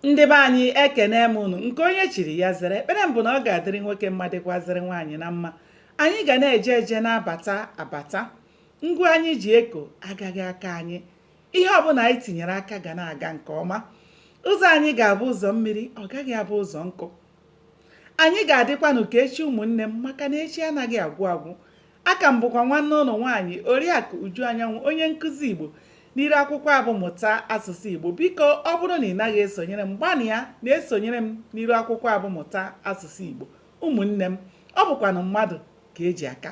ndị be anyị ekene m unu nke onye chiri ya zere ekpere m bụ na ọ ga-adịrị nwoke mma dịkwazịrị nwaanyị na mma anyị ga na-eje eje na-abata abata ngwa anyị ji eko agaghị akọ anyị ihe ọbụla anyị tinyere aka ga na-aga nke ọma ụzọ anyị ga-abụ ụzọ mmiri ọ gaghị abụ ụzọ nkụ anyị ga-adịkwanụ ka echi ụmụnne m maka na echi anaghị agwụ agwụ Aka m bụkwa nwanne unu nwaanyị Oriakụ Uju Anyanwụ onye nkụzi Igbo n'iru akwụkwọ a bụ mụta asụsụ Igbo biko ọ bụrụ na ị naghị esonyere m gbanịa na-esonyere m n'iru akwụkwọ a bụ mụta asụsụ Igbo ụmụnne m ọ bụkwanụ mmadụ ka e ji aka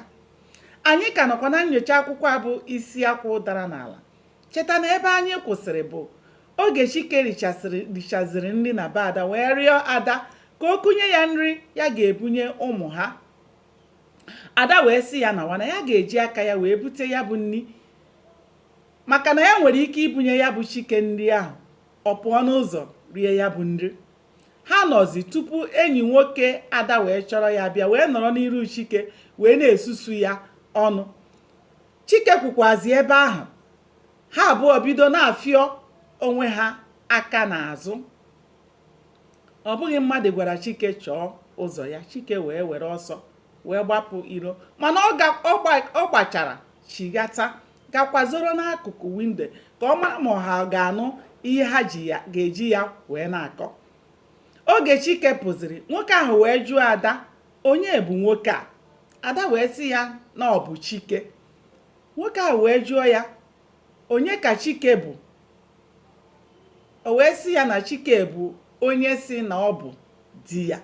anyị ka nọkwa na nyocha akwụkwọ a bụ isi akwụ dara n'ala cheta na ebe anyị kwụsịrị bụ oge Chike richaziri nri na be Ada wee rịọ Ada ka o kunye ya nri ya ga-ebunye ụmụ ha ada wee sị ya nawa na ya ga-eji aka ya wee bute ya bụ nri maka na ya nwere ike ibunye ya bụ chike nri ahụ ọ pụọ n'ụzọ rie ya bụ nri ha nọzi tupu enyi nwoke ada wee chọrọ ya bịa wee nọrọ n'iru chike wee na-esusu ya ọnụ chike kwụkwazi ebe ahụ ha abụọ bido na-afịọ onwe ha aka n'azụ ọ bụghị mmadụ gwara chike chọọ ụzọ ya chike wee were ọsọ wee gbapụ iro mana ọ gbachara chighata ga kwazoro n'akụkụ windo ka ọ mara ma ha ga-anụ ihe ha ji ya ga-eji ya wee na-akọ oge chike pụziri nwoke ahụ wee jụọ ada onye bụ nwoke a ada wee sị ya na ọ bụ chike nwoke ahụ wee jụọ ya onye ka Chike bụ? O wee sị ya na Chike bụ onye sị na ọ bụ di ya.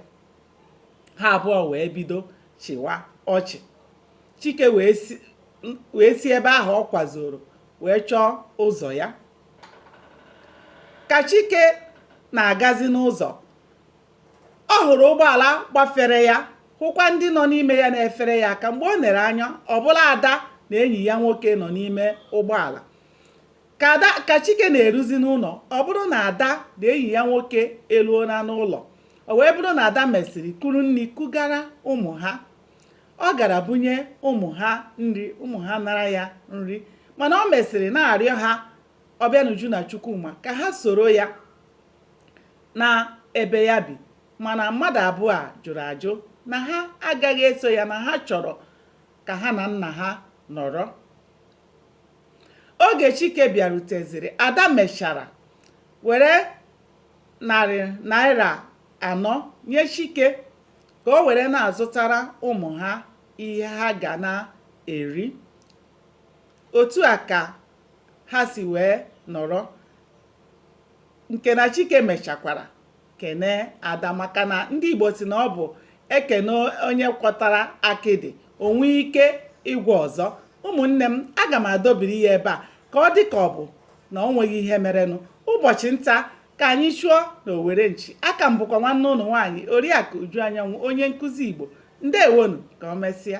Ha abụọ wee bido chịwa ọchị. Chike wee si ebe ahụ ọ kwazoro wee chọọ ụzọ ya. Ka Chike na-agazi n'ụzọ, ọ hụrụ ụgbọala gbafere ya hụkwa ndị nọ n'ime ya na-efere ya aka mgbe o nere anya ọ bụrụ ada na enyi ya nwoke nọ n'ime ụgbọala ka chike na-eruzi n'ụlọ ọ bụrụ na ada na enyi ya nwoke eruona n'ụlọ o wee bụrụ na ada mesịrị kuru nri kugara ụmụ ha ọ gara bunye ụmụ ha nri ụmụ ha nara ya nri mana o mesịrị na-arịọ ha ọbịanuju na chukwuma ka ha soro ya naa ebe ya bi mana mmadụ abụọ a jụrụ ajụ na ha agaghị eso ya na ha chọrọ ka ha na nna ha nọrọ oge Chike bịaruteziri Ada mechara were narị naira anọ nye Chike ka o were na-azụtara ụmụ ha ihe ha ga na-eri otu a ka ha si wee nọrọ nke na chike mechakwara kene ada maka na ndị igbo si na ọ bụ e kene onye gwọtara akịdị o nwee ike ịgwọ ọzọ ụmụnne m aga m adobiri ya ebe a ka ọ dị ka ọ bụ na o nweghị ihe merenụ ụbọchị nta ka anyị chụọ na owere nchi aka m bụkwa nwanne unu nwaanyị oriakụ uju anyanwụ onye nkụzi igbo ndewonụ ka o mesịa